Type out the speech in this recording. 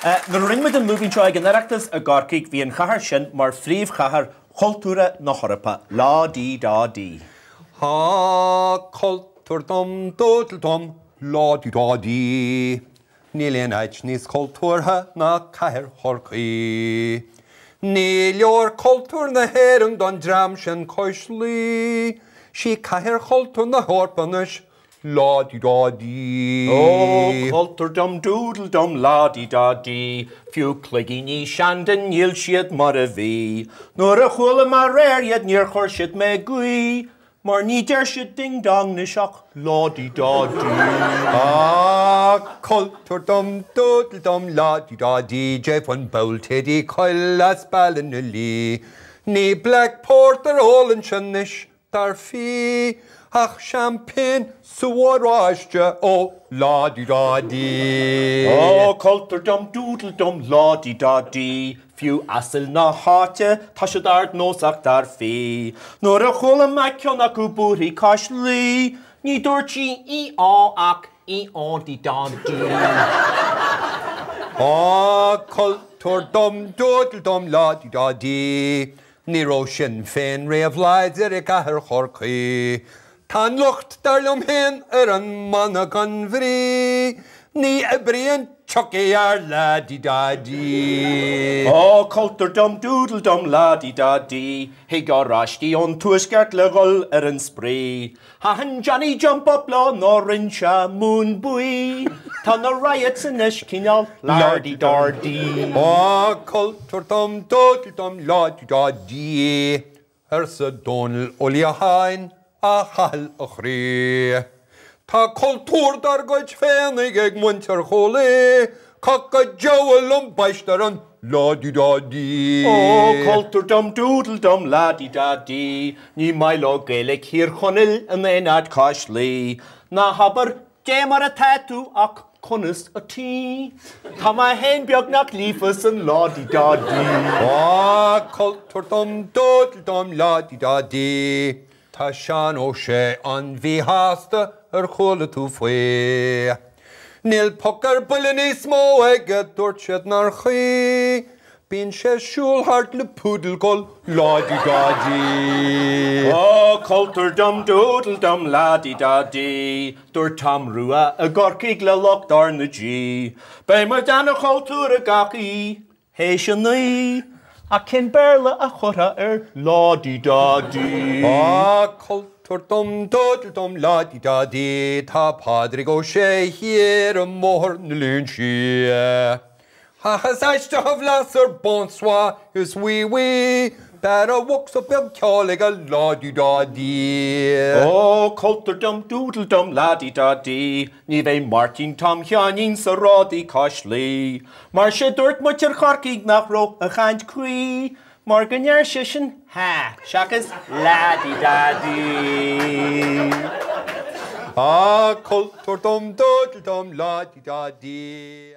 Nuair a rinne muid an lúibín seo ag an Oireachtas i gCorcaigh, bhí an chathair sin mar phríomhchathair chultúrtha na hEorpa, lá dí dá dí. Há, cultúr dum dúdle dum, lá dí dá dí, níl aon áit níos cultúrtha ná cathair Chorcaí. Ní leor cultúr na hÉireann don dream sin cois Laoi, sí cathair chultúr na hEorpa anois Lá dí dá dí. Ó, cultúr dum doodle dum lá dí dá dí, Fiú cloigíní Shandon níl siad mar a bhí, Nuair a chualam aréir iad níor chuir siad mé ag guí, Mar ní deir siad ding dong 'nois ach lá dí dá dí. Ó, cultúr dum doodle dum lá dí dá dí, Jeff an Bould Thady Quill as Ballynalea, Ní Black Porter a ólann sé 'nois Dar fia, ach seaimpéin is sú oráiste ó lá dí dá dí! Ó, cultúr dum doodle dum lá dí dá dí! Fiú asail na háite, tá siad ardnósach, dar fia. Nuair a chuala mé ceann acu búirthigh cois Laoi, ní dúirt sí í-á ach í-á-dí-dá-dí. Ó, cultúr dum doodle dum lá dí dá dí! Ní raibh Sinn Féin riamh láidir i gcathair Chorcaí. Tá an locht, dar liom féin, ar an mana gan bhrí. Ní oibríonn Tiocfaidh ár lá di da di. Ó, cultúr dom doodle dom la di da di, thig Oráistigh ón Tuaisceart le dhul ar an spraoi. Thaithin Johnny Jump Up leo nó rinne siad mún buí, tá na Riots anois cineál la-di-da-di. Ó, cultúr dom doodle dom la-di-da-di, arsa Dónall Ó Liatháin, a Chathail a chroí, tá cultúr dár gcuid féinig ag muintir Chúil Aodha, cac an diabhail ambaist ar an La-di-da-di. Ó, cultúr dum doodle dum la-di-da-di, ní maith leo Gaeilic Thír Chonaill in aon áit cois Laoi. Ná habair, Dé mar atá tú ach conas ataoi? Tá mé féin beagnach líofa san la-di-da-di. Ó, cultúr dum doodle dum la-di-da-di. Tá Seán Ó Sé an-mhíshásta, ar chuala tú faoi? Níl poc ar buile níos mó aige, dúirt siad nár chuí, bíonn sé ag siúl thart le poodle ag gabháil lá di dá di! Ó, cultúr dum doodle dum lá di dá di, dúirt Tom Rua i gCorcaigh le lucht R na G. Beidh muid ana-chultúrtha gach aoi! Théis a naoi, ach cén Béarla a chuirfeá ar lá-dee-da-dee? Á, cultúr dom dúdal dom lá-dee-da-dee, tá Pádraig Ó Sé thiar i mBóthar na Léinsí. Ach is aisteach a bhlas ar bonsoir, is oui oui, b'fhearr a bhocsa beag ceoil aige lá-dee-da-dee. Ó, cultúr dom dúdal dom lá-dee-da-dee, ní bheidh Máirtín Tom Sheáinín sa raidió cois Laoi, Mar 'sé dúirt muintir Chorcaigh nach raibh a chaint cuí mar go ndeir seisean ha, seachas la di da di. Ah, cultúr dom dúdal dom la di da di.